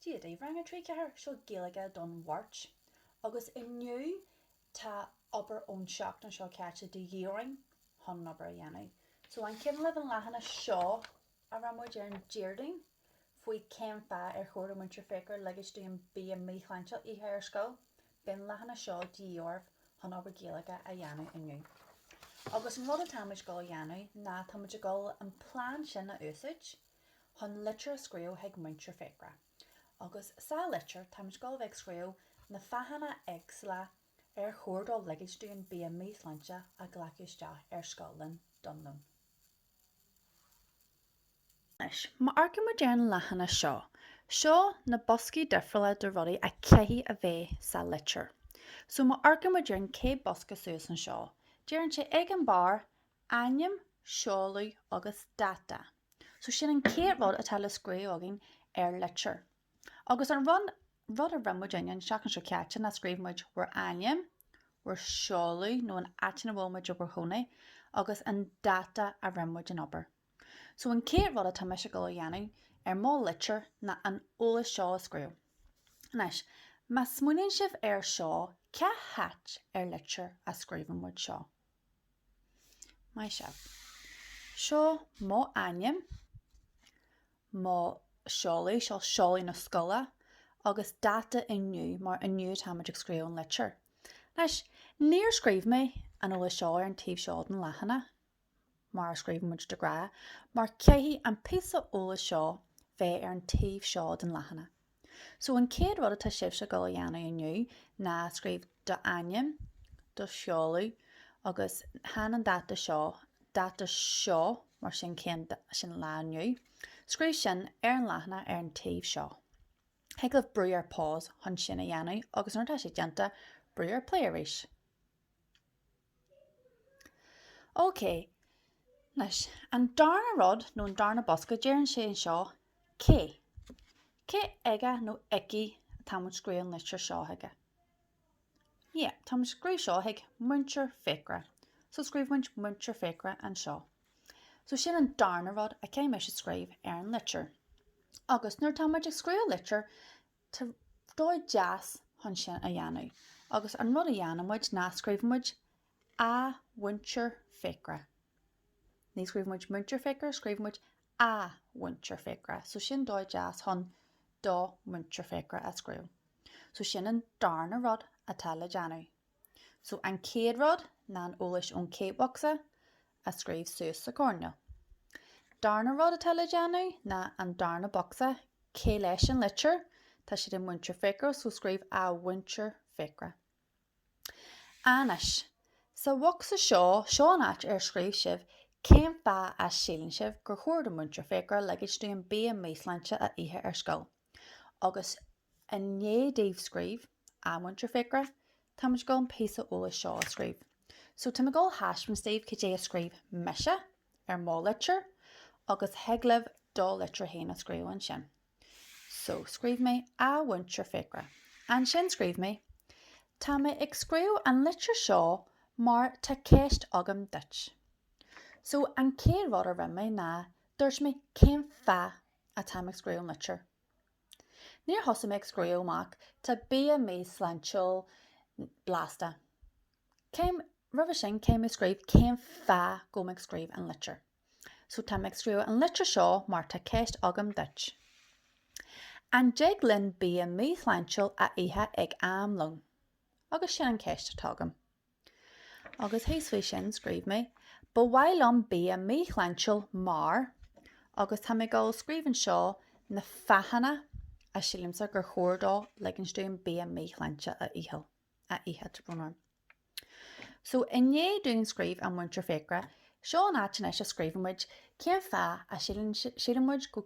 Dia daoibh rang 3, 4, seo Gaeilge don Mháirt agus inniu tá obair ón seachtain seo caite de dhíth orainn chun an obair a dhéanamh. So an cuimhin libh an leathanach seo a rinne muid ar an Déardaoin faoi cén fáth ar chóir do Múinteoir Fiachra ligint dúinn bia míshláintiúil a ithe ar scoil, beidh an leathanach seo de dhíth oraibh chun obair Gaeilge a dhéanamh inniu. Agus an rud atáimid ag dul a dhéanamh ná táimid ag dul an plean sin a úsáid, chun litir a scríobh chuig Múinteoir Fiachra agus sa litir táimid ag dul a bheith ag scríobh na fáthanna éagsúla ar chóir dó ligint dúinn bia míshláintiúil a ghlacadh isteach ar scoil linn don lón. Anois, má amharcann muid ar an leathanach seo, seo na boscaí difriúla de rudaí a chaithfidh a bheith sa litir. So má amharcann muid ar an chéad bosca suas anseo, deireann sé ag an barr Ainm, seoladh agus dáta. So sin an chéad rud atá le scríobh againn ar litir. Agus an rud, rud a rinne muidinne an seachtain seo caite ná scríobh muid bhur ainm, bhur seoladh nó an áit ina bhfuil muid i bhur chónaí agus an dáta a rinne muid an obair. So an chéad rud atá mise ag dul a dhéanamh ar mo litir ná an eolas seo a scríobh. Anois, má smaoiníonn sibh air seo, cá háit ar litir a scríobhann muid seo? Maith sibh. Seo mo ainm, mo seoladh, seo seoladh na scoile, agus dáta inniu, mar inniu atáimid ag scríobh an litir. Anois, níor scríobh mé an eolas seo ar an taobh seo den leathanach, mar a scríobhann muid de ghnáth, mar caithfidh an píosa eolais seo bheith ar an taobh seo den leathanach. So an chéad rud atá sibhse ag dul a dhéanamh inniu ná scríobh do ainm, do sheoladh agus then an dáta seo, dáta seo mar sin cén, sin lá inniu, scríobh sin ar an leathanach ar an taobh seo. Thig libh brú ar pause chun sin a dhéanamh agus nuair atá sé déanta, brú ar play arís. Ok, anois, an darna rud nó an darna bosca, deireann sé anseo cé. Cé aige nó aici atá muid scríobh an litir seo chuige? Yeah, tá muid scríobh seo chuig Múinteoir Fiachra. So scríobh muid Múinteoir Fiachra anseo. So sin an darna rud a chaithfidh muid a scríobh ar an litir. Agus nuair tá muid ag scríobh litir, Tá dóigh dheas chun sin a dhéanamh agus an rud a dhéanann muid ná scríobhann muid A Mhúinteoir Fiachra. Ní scríobhann muid Múinteoir Fiachra, scríobhann muid A Mhúinteoir Fiachra. So sin dóigh deas chun do Mhúinteoir Fiachra a scríobh. So sin an darna rud atá le déanamh. So an chéad rud ná an eolais ón chéad bocsa. a scríobh suas sa choirnéal. Darna rud atá le déanamh ná an darna bocsa, cé leis an litir? Tá sé do Múinteoir Fiachra, so scríobh A Mhúinteoir Fiachra. Anois, sa bhocsa seo, seo an áit ar scríobh sibh cén fáth a síleann sibh gur chóir do Múinteoir Fiachra ligint dúinn bia míshláinte a ithe ar scoil. Agus i ndiaidh daoibh scríobh, a Mhúinteoir Fiachra, tá muid ag dul an píosa eolais seo a scríobh. So tá mé ag dul a thaispeáint daoibh cad é a scríobh mise ar mo litir agus thig libh do litir féin a scríobh ansin. So scríobh mé A Mhúinteoir Fiachra. Ansin scríobh mé Tá mé ag scríobh an litir seo mar tá ceist agam duit. So an chéad rud a rinne mé ná dúirt mé cén fáth atá mé ag scríobh an litir. Níor thosaigh mé ag scríobh amach tá bia míshláintiúil blasta. Em roimhe sin caithfidh mé scríobh cén fáth go bhfuil mé ag scríobh an litir. So tá mé ag scríobh an litir seo mar tá ceist agam duit. An dtig linn bia míshláintiúil a ithe ag am lón? Agus sin an ceist atá agam. Agus thíos faoi sin scríobh mé, Ba mhaith liom bia míshláintiúil mar. Agus tá mé ag dul scríobh anseo na fáthanna a sílimse gur chóir dó ligint dúinn bia míshláinte a ith, a ithe, tá brón orm. So i ndiaidh dúinn scríobh A Mhúinteoir Fiachra, seo an áit anois a scríobhann muid cén fáth a síleann muid go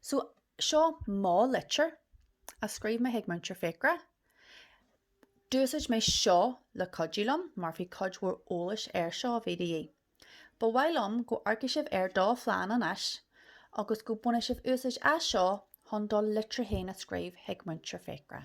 So, seo mo litir a scríobh mé chuig Múinteoir Fiachra. D'úsáid mé seo le cuidiú liom mar bhí cuid mhór eolais air seo a bhí de dhíth. Ba mhaith liom go n-amharcfaidh sibh ar do phlean anois agus go mbainfidh sibh úsáid as seo chun do litir féin a scríobh chuig Múinteoir Fiachra.